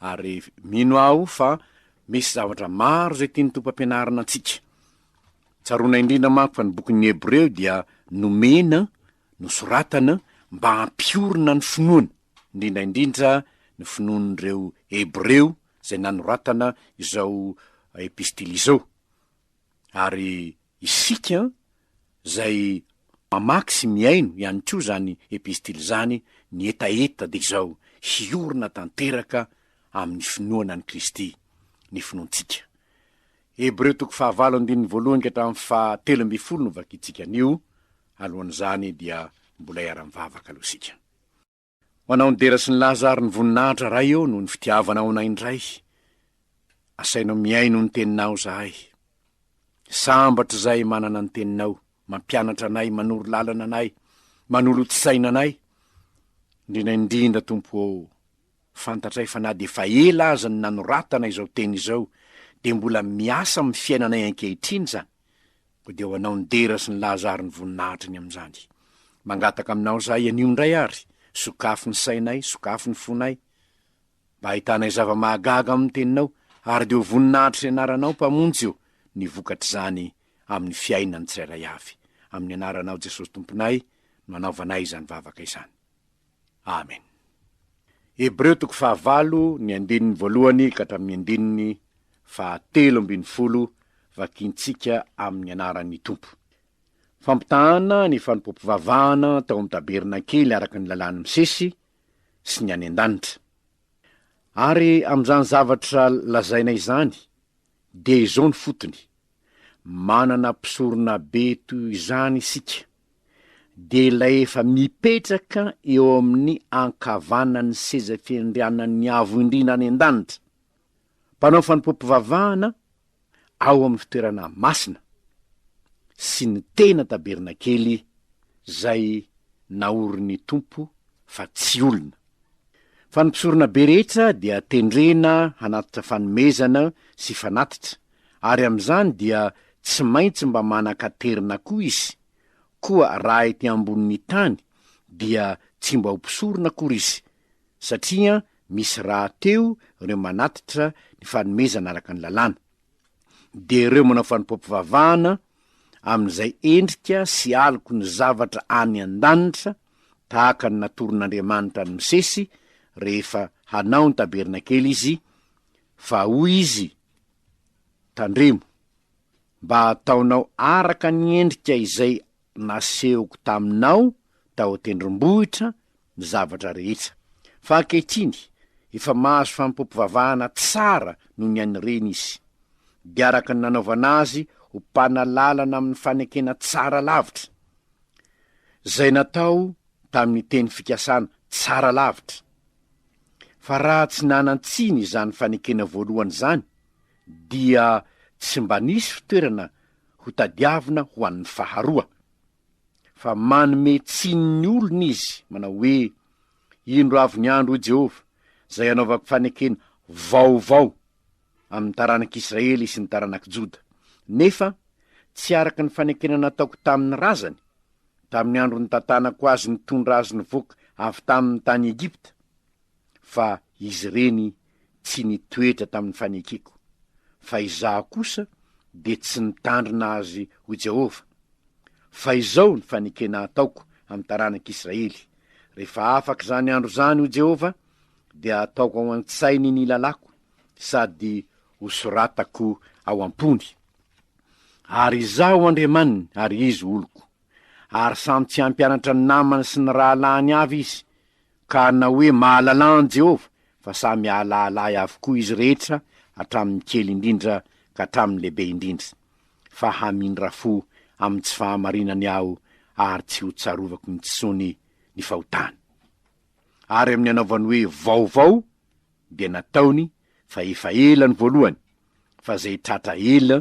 Ary mino aho fa misy zavatra maro izay tian'ny Tompo hampianarina antsika. Tsaroana indrindra manko fa ny bokin'ny Hebreo dia nomena, nosoratana, mba hampiorina ny finoana, indrindra indrindra ny finoan'ireo Hebreo izay nanoratana izao epistily izao. Ary Isika izay mamaky sy mihaino ihany koa izany epistily izany, ny hetaheta dia izao, hiorina tanteraka amin'ny finoana an'i Kristy ny finoantsika. Hebreo toko fahavalo andininy voalohany ka hatramin'ny fahatelo ambin'ny folo no vakintsika anio, alohan'izany dia mbola hiara-mivavaka aloha isika. Manao ny dera sy ny laza ary ny voninahitra Ray ô noho ny fitiavanao anay indray Asainao mihaino ny teninao zahay Sambatra izay manana ny teninao Mampianatra anay, manoro lalana anay, manolotsaina anay Indrindra indrindra Tompo ô Fantatray fa na dia efa ela aza ny nanoratana izao teny izao dia mbola miasa amin'ny fiainanay ankehitriny izany Koa dia ho anao ny dera sy ny laza ary ny voninahitra ny amin'izany. Mangataka aminao izahay anio indray àry, sokafy ny sainay, sokafy ny fonay, mba hahitanay zava-mahagaga ao amin'ny Teninao, ary dia ho voninahitr'izay anaranao, Mpamonjy ô, ny vokatr'izany amin'ny fiainan'ny tsirairay avy. Amin'ny anaranao Jesosy Tomponay no anaovanay izany vavaka izany. Amen. Hebreo toko fahavalo ny andininy voalohany ka hatramin'ny andininy fahatelo ambin'ny folo vakintsika amin'ny anaran'ny Tompo. Fampitahana ny fanompoam-pivavahana tao amin'ny tabernakely araka ny lalàn'i Mosesy sy ny any an-danitra. Ary amin'izany zavatra lazaina izany dia izao ny fotony, manana mpisoronabe toy izany isika. dia ilay efa mipetraka eo amin'ny ankavanan'ny seza fiandrianan'ny Avo Indrindra any an-danitra, mpanao fanompoam-pivavahana ao amin'ny fitoerana masina, sy ny tena tabernakely izay naorin'ny Tompo fa tsy olona. Fa ny mpisoronabe rehetra dia tendrena hanatitra fanomezana sy fanatitra, ary amin'izany dia tsy maintsy mba manan-katerina koa izy, koa raha ety ambonin'ny tany dia tsy mba ho mpisorona akory izy, satria misy rahateo ireo manatitra ny fanomezana araka ny lalàna. Dia ireo manao fanompoam-pivavahana amin'izay endrika sy aloky ny zavatra any an-danitra, tahaka ny natoron'Andriamanitra an'i Mosesy rehefa hanao ny tabernakely izy, fa hoy izy, Tandremo, mba hataonao araka ny endrika izay nasehoko taminao tao an-tendrombohitra ny zavatra rehetra. Fa ankehitriny, efa mahazo fanompoam-pivavahana tsara noho ny an'ny reny izy, dia araka ny nanaovana azy ho mpanalalana amin'ny fanekena tsara lavitra, izay natao tamin'ny teny fikasana tsara lavitra, Fa raha tsy nanan-tsiny izany fanekena voalohany izany, dia tsy mba nisy fitoerana hotadiavina ho an'ny faharoa. Fa manome tsiny ny olona izy, manao hoe, Indro avy ny andro, hoy Jehovah, izay hanaovako fanekena vaovao amin'ny taranak'i Israely sy ny taranak'i Joda. Nefa, tsy araka ny fanekena nataoko tamin'ny razany, tamin'ny andro nitantanako azy nitondra azy nivoaka avy tamin'ny tany Egypta, fa izy ireny tsy nitoetra tamin'ny fanekeko, fa izaho kosa dia tsy nitandrina azy ho Jehovah. Fa izao ny fanekena ataoko amin'ny taranak'i Israely, Rehefa afaka izany andro izany, hoy Jehovah, dia ataoko ao an-tsainy ny lalàko sady hosoratako ao am-pony. Ary Izaho Andriamaniny ary izy oloko. Ary samy tsy hampianatra ny namany sy ny rahalahiny avy izy, ka hanao hoe mahalala an'i Jehovah, fa samy hahalahala ahy avokoa izy rehetra hatramin'ny kely indrindra ka hatramin'ny lehibe indrindra, fa hamindra fo amin'ny tsy fahamarinany aho ary tsy hotsarovako intsony ny fahotany. ary amin'ny anaovany hoe vaovao dia nataony fa efa ela ny voalohany fa izay tratra ela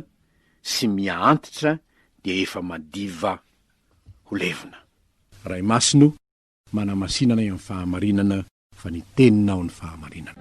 sy miha antitra dia efa madiva ho levona. Ray Masina o, manamasina anay amin'ny fahamarinana fa ny Teninao ny fahamarinana.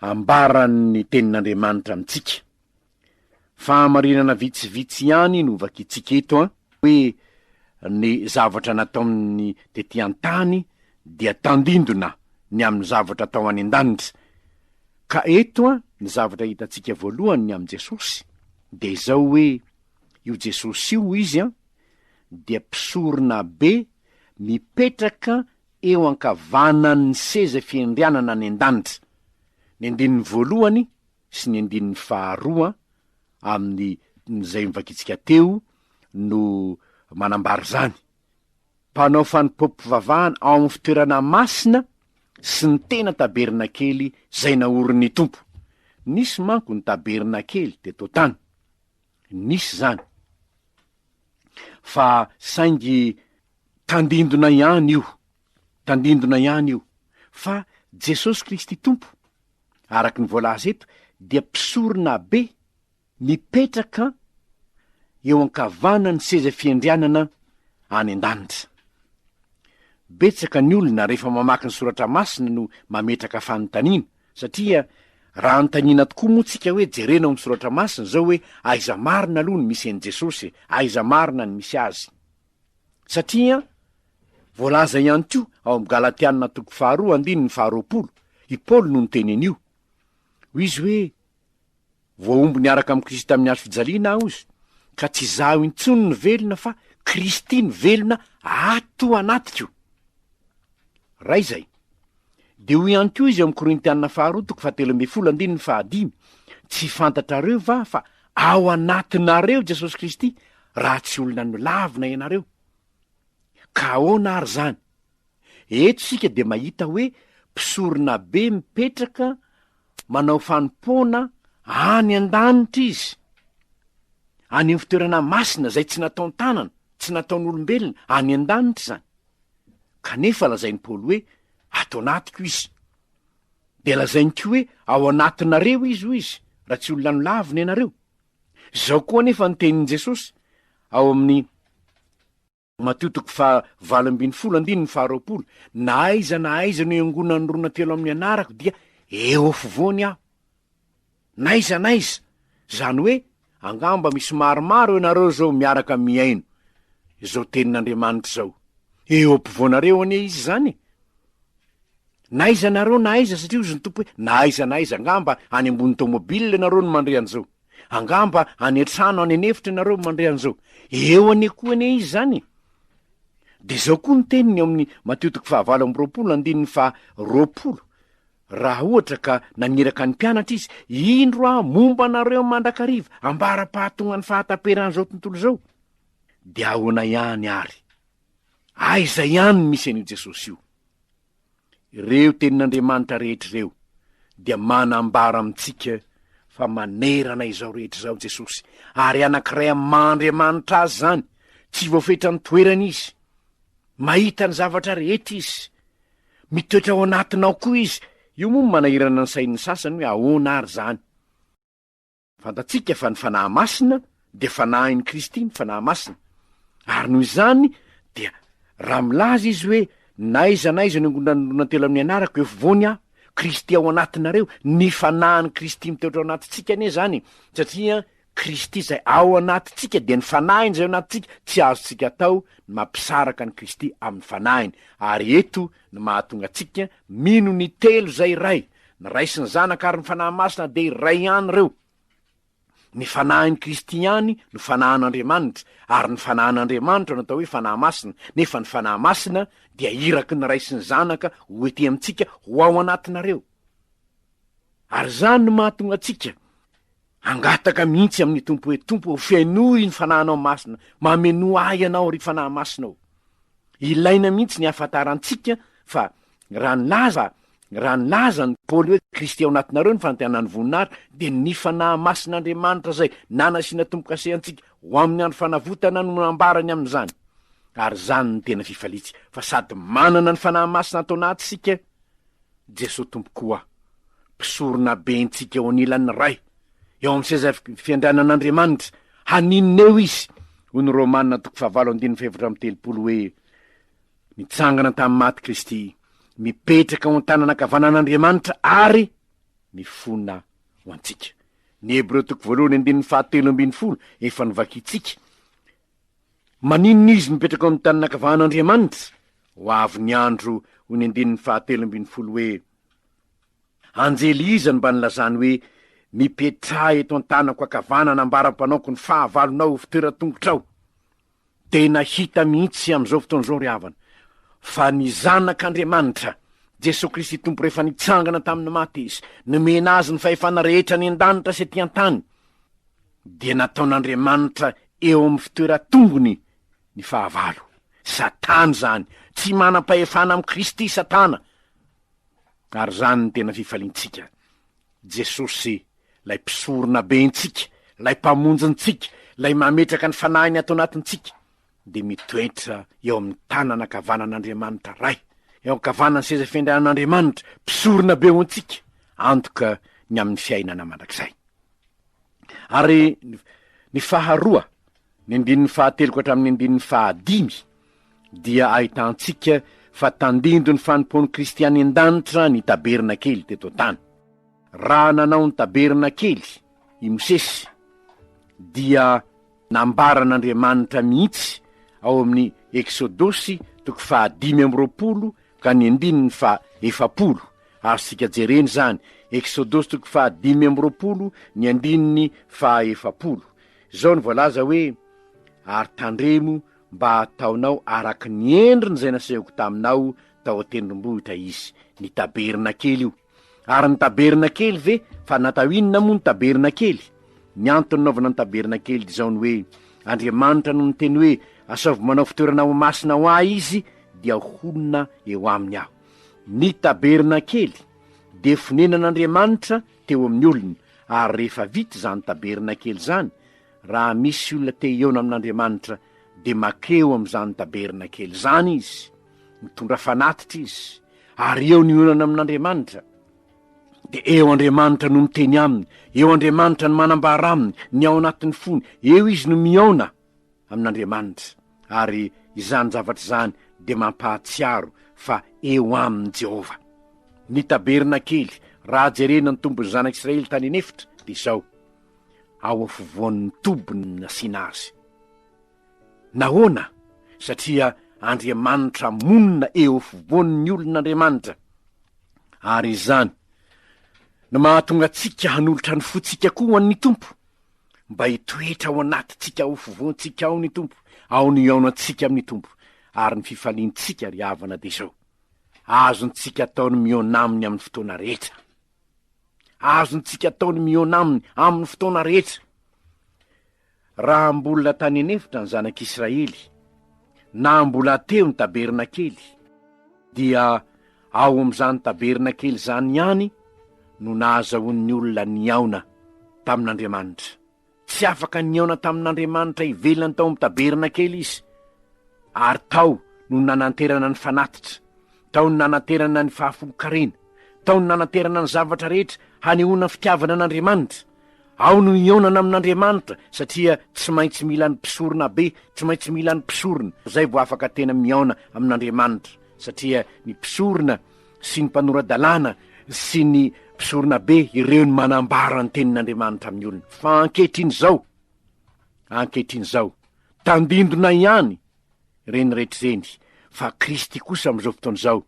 Ambaran'ny Tenin'Andriamanitra amintsika. Fahamarinana vitsivitsy ihany no vakintsika eto an, hoe ny zavatra nataony tety an-tany dia tandindona ny amin'ny zavatra atao any an-danitra. Ka eto an, ny zavatra hitantsika voalohany ny amin'i Jesosy dia izao hoe io Jesosy io, izy an, dia mpisoronabe mipetraka eo ankavanan' ny seza fiandrianana any an-danitra, ny andininy voalohany sy ny andininy faharoa amin' izay novakintsika teo no manambara izany. Mpanao fanompoam-pivavahana ao amin' ny fitoerana masina sy ny tena tabernakely izay naorin' ny Tompo. Nisy manko ny tabernakely teto an-tany. Nisy izany. Fa saingy tandindona ihany io, tandindona ihany io, fa Jesosy Kristy Tompo, araka ny voalaza eto, dia Mpisoronabe mipetraka eo ankavanan'ny seza fiandrianana any an-danitra. Betsaka ny olona, rehefa mamaky ny Soratra Masina no mametraka fanontaniana, Satria raha anontaniana tokoa moa tsika hoe jerena ao amin'ny soratra masina izao hoe aiza marina aloha ny misy an'i Jesosy e? aiza marina ny misy azy? Satria voalaza ihany koa ao amin'ny Galatiana toko faharoa andininy faharoapolo, i Paoly no niteny an'io. Hoy izy hoe, Voahombo niaraka amin'i Kristy tamin'ny hazo fijaliana aho ozy, ka tsy izaho intsony no velona fa Kristy no velona ato anatiko. Raha izay, dia hoy ihany koa izy ao amin'ny Korintiana faharoa toko fahatelo ambin'ny folo andininy fahadimy, Tsy fantatrareo va fa ao anatinareo Jesosy Kristy, raha tsy olona nolavina ianareo? Ka ahoana ary izany? Eto isika dia mahita hoe mpisoronabe mipetraka manao fanompoana any an-danitra izy, any amin'ny fitoerana masina izay tsy nataon-tanana, tsy nataon'olombelona, any an-danitra izany. Kanefa lazain'i Paoly hoe ato anatiko izy. Dia lazainy koa hoe ao anatinareo izy, hoy izy, raha tsy olona nolavina ianareo. Izao koa anefa ny tenin'i Jesosy ao amin'ny Matio toko faha valo ambin'ny folo andininy faha roapolo, Na aiza na aiza no iangonan'ny rona telo amin'ny anarako dia eo afovoany aho. Na aiza na aiza! Izany hoe, angamba misy maromaro ianareo izao miaraka mihaino izao tenin'Andriamanitra izao. Eo ampovoanareo anie Izy izany e! Na aiza ianareo na aiza, satria hozy ny Tompo hoe, Na aiza na aiza, angamba any ambony tômôbila ianareo no mandre an'izao. Angamba any an-trano any an'efitra ianareo no mandre an'izao. Eo anie koa anie izy izany e! Dia izao koa ny teniny ao amin'ny Matio toko fahavalo amby roapolo andininy faha roapolo, Raha ohatra ka naniraka ny mpianatra izy, Indro aho momba anareo mandrakariva, ambara-pahatongan'ny fahataperan'izao tontolo izao, dia ahoana ihany àry? Aiza ihany no misy an'io Jesosy io? Ireo tenin'Andriamanitra rehetra ireo dia manambara amintsika fa manerana izao rehetra izao Jesosy, ary anankiray amin'ny maha Andriamanitra Azy izany, tsy voafetra ny toerany Izy, mahita ny zavatra rehetra Izy, mitoetra ao anatinao koa Izy, io moa no manahirana ny sain'ny sasany hoe ahoana ary izany? Fantatsika fa ny Fanahy Masina dia Fanahin'i Kristy ny Fanahy Masina, ary noho izany dia raha milaza izy hoe, N'aiza n'aiza ny angonan-dronan telo amin'ny anarako, efovoany aho, Kristy ao anatinareo, ny Fanahin'i Kristy mitoetra ao anatintsika anie izany, satria Kristy izay ao anatintsika dia ny Fanahiny izay ao anatintsika, tsy azontsika atao ny mampisaraka an'i Kristy amin'ny Fanahiny, ary eto no mahatonga antsika mino ny Telo izay Iray. Ny Ray sy ny Zanaka ary ny Fanahy Masina dia iray ihany ireo. Ny Fanahin'i Kristy ihany no Fanahin'Andriamanitra, ary ny Fanahin'Andriamanitra no atao hoe Fanahy Masina, nefa ny Fanahy Masina dia iraky ny Ray sy ny Zanaka ho ety amintsika ho ao anatinareo. Ary izany no mahatonga antsika, Hangataka mihitsy amin'ny Tompo hoe, Tompo ô, fenoy ny Fanahinao Masina, mamenoa ahy Ianao, ry Fanahy Masina ô. Ilaina mihitsy ny hahafantarantsika fa raha nilaza, raha nilaza an'i Paoly hoe, Kristy ao anatinareo ny fanantenan'ny voninahitra, dia ny Fanahy Masin'Andriamanitra izay nanasiana tombo-kase antsika ho amin'ny andro fanavotana no nambarany amin'izany. Ary izany no tena fifaliantsika, fa sady manana ny Fanahy Masina ato anaty isika, Jesoa Tompoko o! Mpisorona be ntsika eo anilan'ny Ray, eo amin'ny seza fiandrianan'Andriamanitra, haninona eo Izy? Hoy ny Romana toko fahavalo andininy fahefatra amby telopolo hoe, Nitsangana tamin'ny maty Kristy, mipetraka ao an-tanana ankavanan'Andriamanitra ary mifona ho antsika. Ny Hebreo toko voalohany andininy fahatelo ambin'ny folo efa novakintsika. Maninona izy mipetraka ao amin'ny tanin'ny ankavahan'Andriamanitra? Ho avy ny andro, hoy ny andininy fahatelo ambin'ny folo hoe, Anjely iza no mba nilazany hoe, Mipetraha eto an-tanako ankavanana ambara-panaoko ny fahavalonao ho fitoeran-tongotrao? Tena hita mihitsy amin'izao fotoana izao, ry havana, fa ny Zanak'Andriamanitra, Jesoa Kristy Tompo rehefa nitsangana tamin'ny maty Izy, nomena Azy ny fahefana rehetra any an-danitra sy ety an-tany, dia nataon'Andriamanitra eo amin'ny fitoeran-tongony ny fahavalo. Satana izany. Tsy manam-pahefana amin'i Kristy Satana. Ary izany no tena fifaliantsika. Jesosy, ilay Mpisorona be antsika, ilay Mpamonjy antsika, ilay mametraka ny fanahiny ato anatintsika, dia mitoetra eo amin'ny tanana ankavanan'Andriamanitra Ray, eo ankavanan'ny seza fiandrianan'Andriamanitra, Mpisorona be ho antsika, antoka ny amin'ny fiainana mandrakizay. ary ny faharoa ny andininy fahatelo ka hatramin'ny andininy fahadimy dia ahitantsika fa tandindy ny fanompoan'ny kristiany an-danitra ny taberina kely teto an-tany raha nanao ny taberina kely i mosesy dia Nambaran'Andriamanitra mihitsy ao amin'ny Eksodosy toko faha dimy amby roapolo ka ny andininy faha efapolo. Azontsika jerena izany, Eksodosy toko faha dimy amby roapolo ny andininy faha efapolo. Izao no voalaza hoe, Ary tandremo mba hataonao araka ny endriny izay nasehoko taminao tao an-tendrombohitra izy, ny tabernakely io, Ary ny tabernakely ve? Fa natao inona moa ny tabernakely? Ny antony nanaovana ny tabernakely dia izao ny hoe, Andriamanitra no niteny hoe, Asaovy manao fitoerana ho masina ho Ahy Izy, dia honina eo aminy Aho. Ny tabernakely dia fonenan'Andriamanitra teo amin'ny olona, ary rehefa vita izany tabernakely izany, raha misy olona te-hihaona amin'Andriamanitra, dia makeo amin'izany tabernakely izany izy. Mitondra fanatitra izy, ary eo ny olana amin'Andriamanitra. Dia eo Andriamanitra no miteny aminy, eo Andriamanitra no manambara aminy ny ao anatin'ny fony, eo izy no mihaona amin'Andriamanitra. Ary izany zavatra izany dia mampahatsiaro fa eo aminy Jehovah. Ny tabernakely, raha jerena ny tombon'ny zanak'Israely tany an'efitra, dia izao, ao afovoan'ny tobiny no nasiana azy. Nahoana? Satria Andriamanitra monina eo afovoan'ny olon'Andriamanitra, ary izany no mahatonga antsika hanolotra ny fontsika koa ho an'ny Tompo, mba hitoetra ao anatintsika, ao afovoantsika ao ny Tompo, ao ny hihaonantsika amin'ny Tompo, ary ny fifaliantsika, ry havana, dia izao, azontsika atao ny mihaona Aminy amin'ny fotoana rehetra. Azontsika atao ny mihaona Aminy amin'ny fotoana rehetra. Raha mbola tany an'efitra ny zanak'Israely, na mbola teo ny tabernakely, dia ao amin'izany tabernakely izany ihany no nahazahoan'ny olona nihaona tamin'Andriamanitra. Tsy afaka nihaona tamin'Andriamanitra ivelany tao amin'ny tabernakely izy, ary tao no nananterana ny fanatitra. Tao ny nanaterana ny fahafolon-karena. Tao ny nanaterana ny zavatra rehetra hanehoana fitiavana an'Andriamanitra. Ao no hihaonana amin'Andriamanitra satria tsy maintsy mila ny mpisorona be, tsy maintsy mila ny mpisorona, izay vao afaka tena mihaona amin'Andriamanitra satria ny mpisorona sy ny mpanora-dalàna sy ny mpisorona be ireo no manambara ny tenin'Andriamanitra amin'ny olona. Fa ankehitriny izao, ankehitriny izao, tandindona ihany ireny rehetra ireny, fa Kristy kosa amin'izao fotoana izao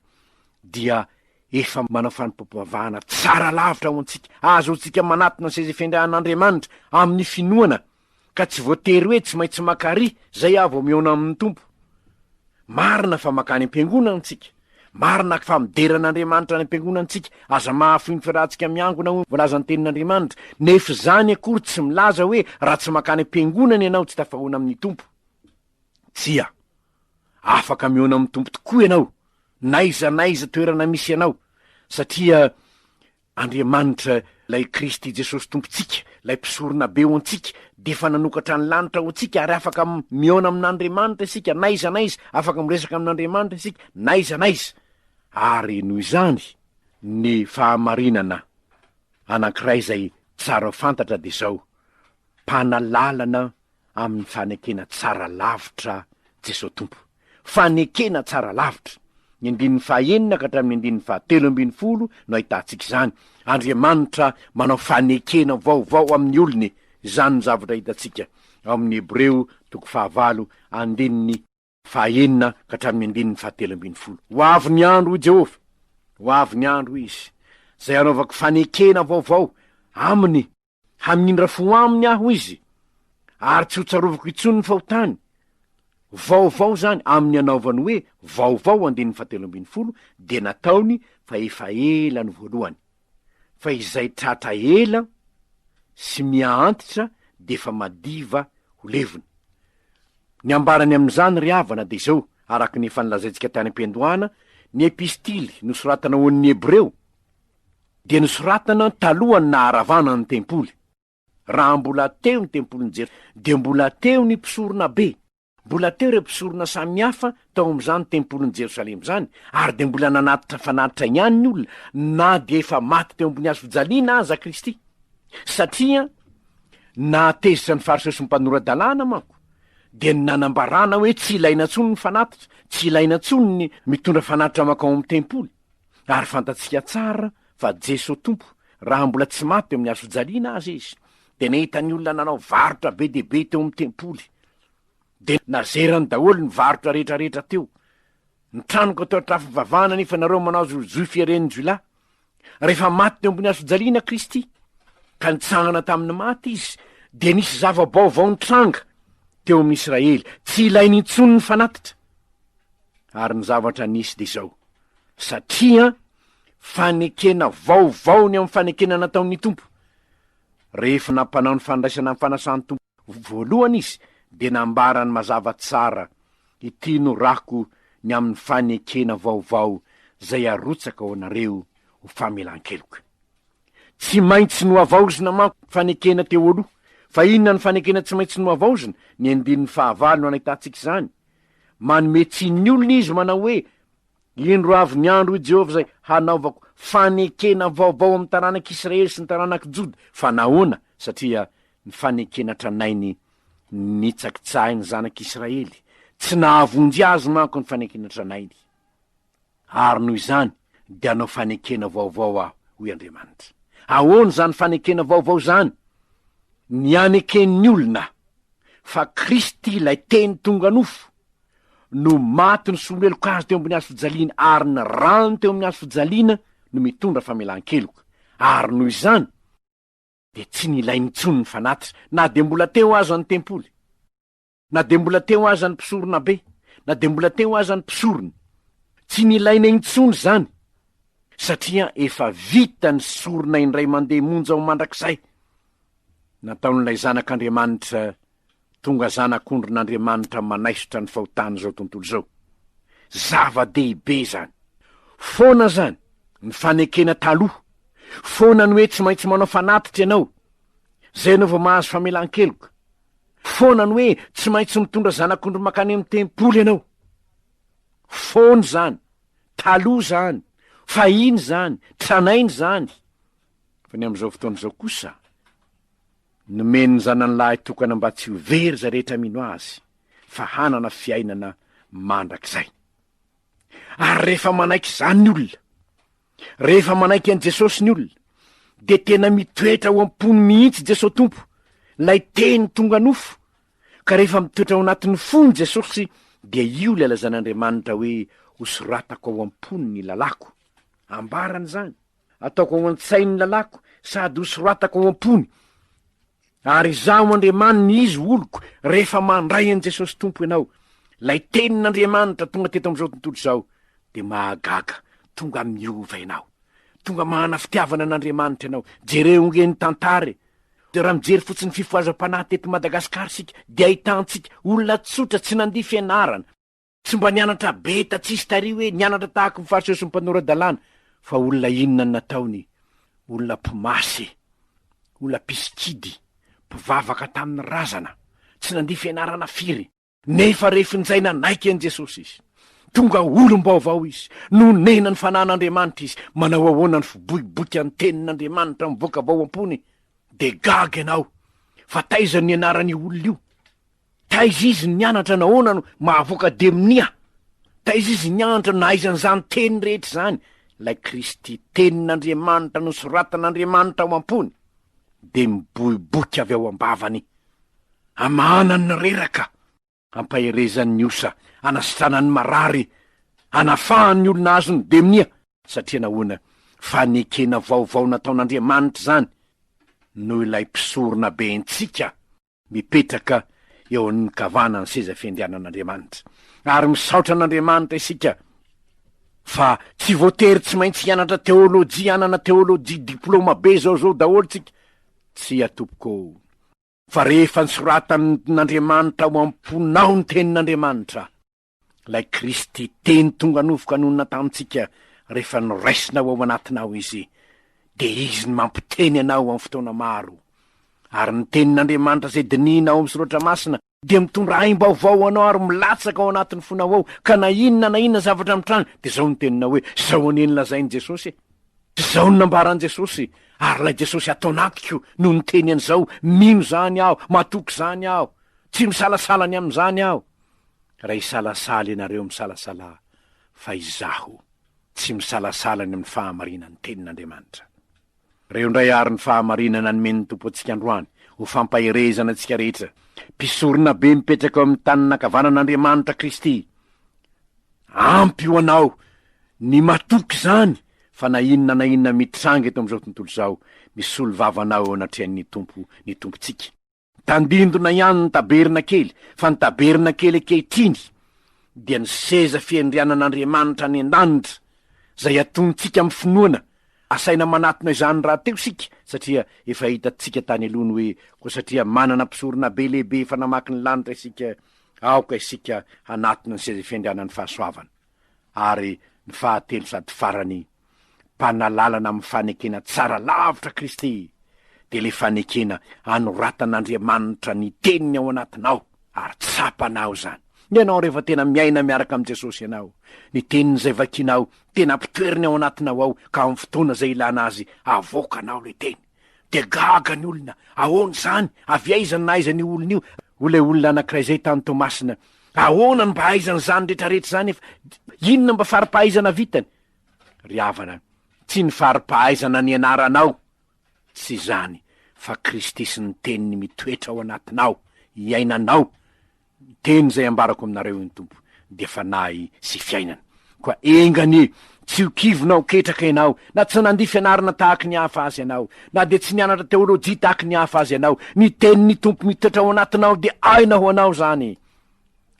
dia efa manao fanompoam-pivavahana tsara lavitra ho antsika, ahazoantsika manatona ny sezafendrahan'Andriamanitra amin'ny finoana, ka tsy voatery hoe tsy maintsy maka ry zay aho vao mihaona amin'ny Tompo. Marina fa mankany am-piangonana isika, marina fa midera an'Andriamanitra any am-piangonana isika, aza mahafoy ny fiarahantsika miangona hoy ny voalazan'ny tenin'Andriamanitra, nefa izany akory tsy milaza hoe raha tsy mankany am-piangonana ianao tsy tafahoana amin'ny Tompo. Tsia. Afaka mihaona amin'ny Tompo tokoa ianao, n'aiza n'aiza toerana misy anao, satria Andriamanitra, ilay Kristy Jesosy Tompontsika, ilay Mpisoronabe ho antsika, dia efa nanokatra ny lanitra ho antsika, ary afaka mihaona amin'Andriamanitra isika, n'aiza n'aiza, afaka miresaka amin'Andriamanitra isika, n'aiza n'aiza. Ary noho izany, ny fahamarinana anankiray izay tsara fantatra dia izao, Mpanalalana amin'ny fanekena tsara lavitra Jesoa Tompo. Fanekena tsara lavitra. Ny andininy fahenina ka hatramin'ny andininy fahatelo ambin'ny folo no ahitantsika izany. Andriamanitra manao fanekena vaovao amin'ny olony, izany no zavatra hitantsika ao amin'ny Hebreo toko fahavalo andininy Fahaenina ka hatramin'ny andininy fahatelo ambin'ny folo. Ho avy ny andro, hoy Jehovah, ho avy ny andro, hoy Izy, izay hanaovako fanekena vaovao aminy, hamindra fo aminy aho, hoy Izy, ary tsy hotsarovako intsony ny fahotany. Vaovao izany, amin'ny anaovany hoe vaovao, andininy fahatelo ambin'ny folo, dia nataony fa efa ela ny voalohany. fa izay tratra ela sy miha-antitra dia efa madiva ho levona. Ny ambarany amin'izany ry havana dia izao, araka ny efa nolazaintsika tany am-piandohana, ny epistily nosoratana ho an'ny Hebreo dia nosoratana talohan'ny naharavana ny tempoly. Raha mbola teo ny tempolin'i Jerosalema, dia mbola teo ny mpisoronabe. Mbola teo ireo mpisorona samy hafa tao amin'izany tempolin'i Jerosalema izany, ary dia mbola nanatitra fanatitra ihany ny olona, na dia efa maty teo ambony hazofijaliana aza Kristy. Satria nahatezitra ny Fariseo sy ny mpanora-dalàna manko, dia ny nanambarana hoe tsy ilaina intsony ny fanatitra, tsy ilaina intsony ny mitondra fanatitra mankao amin'ny tempoly. Ary fantatsika tsara fa Jeso Tompo, raha mbola tsy maty teo amin'ny hazojaliana aza izy, dia nahita ny olona nanao varotra be dia be teo amin'ny tempoly. Dia nazerany daholo ny varotra rehetrarehetra teo. Ny tranoko atao trafo-bavahana nefa nareo manao zozoy fieren'ny jiolahy. Rehefa maty teo ambony hazojaliana Kristy, ka nitsangana tamin'ny maty izy, dia nisy zava-baovao nitranga teo amin'ny Israely, tsy ilainy intsony ny fanatitra. Ary ny zavatra nisy dia izao. satria fanekena vaovao ny amin'ny fanekena nataon'ny Tompo. Rehefa nampanao ny fandraisana ny fanasan'ny Tompo voalohany Izy, dia nambarany mazava tsara, Ity no rako ny amin'ny fanekena vaovao izay arotsaka ho anareo ho famelan-keloka. Tsy maintsy nohavaozina manko ny fanekena teo aloha. Fa inona no fanekena tsy maintsy nohavaozina? Ny andininy fahavalo no anahitantsika izany. Manome tsiny ny olona izy manao hoe, Indro avy ny andro, hoy Jehovah, izay hanaovako fanekena vaovao amin'ny taranak'Israely sy ny taranak'i Joda. Fa nahoana? Satria ny fanekena tranainy nitsakitsahiny ny zanak'Israely. Tsy nahavonjy azy manko ny fanekena tranainy. Ary noho izany dia hanao fanekena vaovao aho, hoy Andriamanitra. Ahoana izany fanekena vaovao izany? Ny haneken'ny olona fa Kristy ilay Teny tonga nofo no maty nisoloheloka azy teo ambony hazo fijaliana, ary ny rany teo amin'ny hazo fijaliana no mitondra famelan-keloka. Ary noho izany dia tsy nilaina intsony ny fanatitra, na dia mbola teo aza ny tempoly. Na dia mbola teo aza ny mpisoronabe, na dia mbola teo aza ny mpisorona, tsy nilaina intsony izany, satria efa vita ny sorona indray mandeha monja ho mandrakizay. Nataon'ilay Zanak'Andriamanitra tonga Zanak'ondrin'Andriamanitra manaisotra ny fahotan'izao tontolo izao. Zava-dehibe izany. Foana izany, ny fanekena taloha. Foana ny hoe tsy maintsy manao fanatitra ianao. Izay ianao vao mahazo famelan-keloka. Foana ny hoe tsy maintsy mitondra zanak'ondry mankany amin'ny tempoly ianao. Foana izany, taloha izany, fahiny izany, tranainy izany. Fa ny amin'izao fotoana izao kosa, nomen'ny Zanany lahy tokana mba tsy ho very izay rehetra mino Azy, fa hanana fiainana mandrakizay. Ary rehefa manaiky izany ny olona, Rehefa manaiky an'i Jesosy ny olona, dia tena mitoetra ao am-pony mihitsy Jesosy Tompo, ilay Teny tonga nofo. Ka rehefa mitoetra ao anatin'ny fony Jesosy, dia io ilay lazain'Andriamanitra hoe hosoratako ao am-pony ny lalàko. Ambarany izany, Ataoko ao an-tsainy ny lalàko, sady hosoratako ao am-pony. Ary izaho Andriamaniny izy oloko rehefa mandray an'i Jesosy Tompo ianao, ilay Tenin'Andriamanitra tonga teto amin'izao tontolo izao, dia mahagaga, tonga miova ianao. Tonga manana fitiavana an'Andriamanitra ianao. Jereo nge ny tantara e! Dia raha mijery fotsiny ny fifohazam-panahy teto Madagasikara isika, dia ahitantsika olona tsotra tsy nandia fianarana, Tsy mba nianatra be ta tsisy tary hoe nianatra tahaky ny fariseho sy ny mpanora dalàna fa olona inona ny nataony? Olona mpimasy, olona mpisikidy, mpivavaka tamin'ny razana, tsy nandia fianarana firy. Nefa rehefin'izay nanaiky an'i Jesosy izy, tonga olom-baovao izy, nonena ny fanahin'Andriamanitra izy, manao ahoana ny fiboiboika ny tenin'Andriamanitra mivoaka avy ao am-pony? Dia gaga ianao fa taiza no nianaran'io olona io? Taiza izy nianatra nahoana no mahavoaka demonia? Taiza izy nianatra nahaizany izany teny rehetra izany? Ilay Kristy tenin'Andriamanitra nosoratan'Andriamanitra ao am-pony dia miboiboika avy ao am-bavany hamahana ny reraka, hampaherezany ny osa, hanasitranany ny marary, hanafahany ny olona azon'ny demonia. Satria nahoana? Fanekena vaovao nataon'Andriamanitra izany noho ilay mpisoronabentsika. mipetraka eo amin'ny kavanan'ny seza fiandrianan'Andriamanitra. Ary misaotra an'Andriamanitra isika fa tsy voatery tsy maintsy hianatra teolojia, hanana teolojia diplôma be zao zao daholo tsika. Tsia tompoko ô! Fa rehefa nisoratan'Andriamanitra ao am-ponao ny tenin'Andriamanitra, Ilay Kristy Teny tonga novoka nonina tamintsika rehefa noraisinao ao anatinao Izy, dia Izy no mampiteny anao amin'ny fotoana maro. Ary ny Tenin'Andriamanitra izay dinihina ao amin'ny Soratra Masina dia mitondra aim-baovao ho anao ary milatsaka ao anatin'ny fonao ao, ka na inona na inona zavatra mitranga, dia izao no teninao hoe, Izao anie no lazain'i Jesosy e! Izao no nambaran'i Jesosy, ary ilay Jesosy ato anatiko no niteny an'izao, mino izany aho, matoky izany aho, tsy misalasala ny amin'izany aho. raha hisalasala ianareo misalasala fa izaho tsy misalasala ny amin'ny fahamarinan'ny tenin'Andriamanitra. Reo indray ary ny fahamarinana nomen'ny Tompo antsika androany ho fampaherezana antsika rehetra, mpisorona be mipetraka eo amin'ny tanana ankavanan'Andriamanitra Kristy. Ampy ho anao ny matoky izany fa na inona na inona mitranga eto amin'izao tontolo izao, misolo vava anao eo anatrehan'ny Tompo ny Tompontsika. Tandindona ihany ny tabernakely, fa ny tabernakely ankehitriny dia ny seza fiandrianan'Andriamanitra any an-danitra, izay atontsika amin'ny finoana. Asaina manatona izany rahateo isika, satria efa hitantsika tany aloha ny hoe koa satria manana Mpisoronabe lehibe efa namaky ny lanitra isika, aoka isika hanatona ny seza fiandrianan'ny fahasoavana. ary ny fahatelo sady farany, mpanalalana amin'ny fanekena tsara lavitra Kristy, dia ilay fanekena anoratan'Andriamanitra ny Teniny ao anatinao, ary tsapanao izany. Ianao rehefa tena miaina miaraka amin'i Jesosy ianao, ny Teniny izay vakinao tena ampitoeriny ao anatinao ao, ka amin'ny fotoana izay ilana Azy, avoakanao ilay Teny. Dia gaga ny olona, ahoana izany, avy aiza no nahaiza an'io olona io, hoy ilay olona anankiray izay tany Toamasina, ahoana no mba hahaizany izany rehetrarehetra izany efa, inona mba fari-pahaizana vitany? Ry havana, tsy ny fari-pahaizana nianaranao, tsy izany, fa Kristy sy ny Teniny mitoetra ao anatinao, iainanao, Miteny izay ambarako aminareo io ny Tompo, dia Fanahy sy Fiainana. Koa enga anie, tsy ho kivy na ho ketraka ianao, na tsy nandia fianarana tahaka ny hafa azy ianao, na dia tsy nianatra teolojia tahaka ny hafa azy ianao, ny Tenin'ny Tompo mitoetra ao anatinao, dia aina ho anao izany.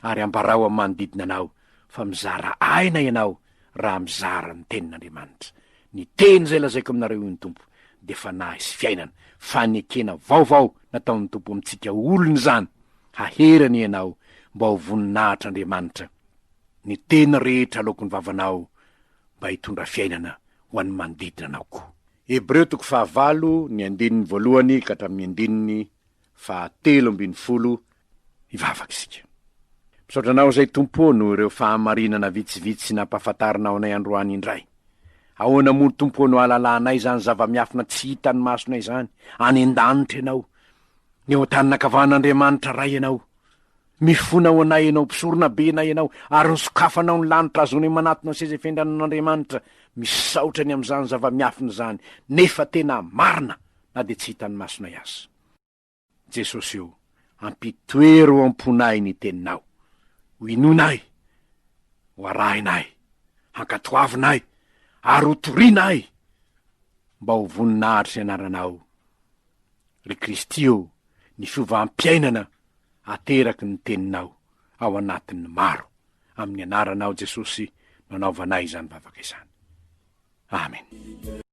Ary ambarao amin'ny manodidina anao fa mizara aina ianao. raha mizara ny tenin'Andriamanitra. Ny teny izay lazaiko aminareo io ny Tompo, dia fanahy sy fiainana. Fanekena vaovao nataon'ny Tompo amintsika olona izany, hahery anie ianao mba ho voninahitr'Andriamanitra. Ny teny rehetra aloaky ny vavanao mba hitondra fiainana ho an'ny manodidina anao koa. Hebreo toko fahavalo, ny andininy voalohany ka hatramin'ny andininy faha telo ambin'ny folo hivavaka isika. Misaotra Anao izay Tompo ô noho ireo fahamarinana vitsivitsy nampahafantarinao anay androany indray. Ahoana moa Tompo ô no ahalalanay izany zava-miafina tsy hitan'ny masonay izany, any an-danitra Ianao, eo an-tanin'ny ankavan'Andriamanitra Ray Ianao. Mifona ho anay Ianao, mpisorona benay Ianao, ary ny sokafanao ny lanitra azonay manatona ny seza fendranan'Andriamanitra. Misaotra ny amin'izany zava-miafina izany, nefa tena marina na dia tsy hitan'ny masonay aza. Jesosy ô, ampitoero ao am-ponay ny Teninao, ho inoanay, ho arahinay, hankatoavinay, ary ho torianay, mba ho voninahitr'ny Anaranao. Ry Kristy ô, ny fiovam-piainana ateraky ny Teninao ao anatin'ny maro, amin'ny Anaranao Jesosy no anaovanay izany vavaka izany. Amena.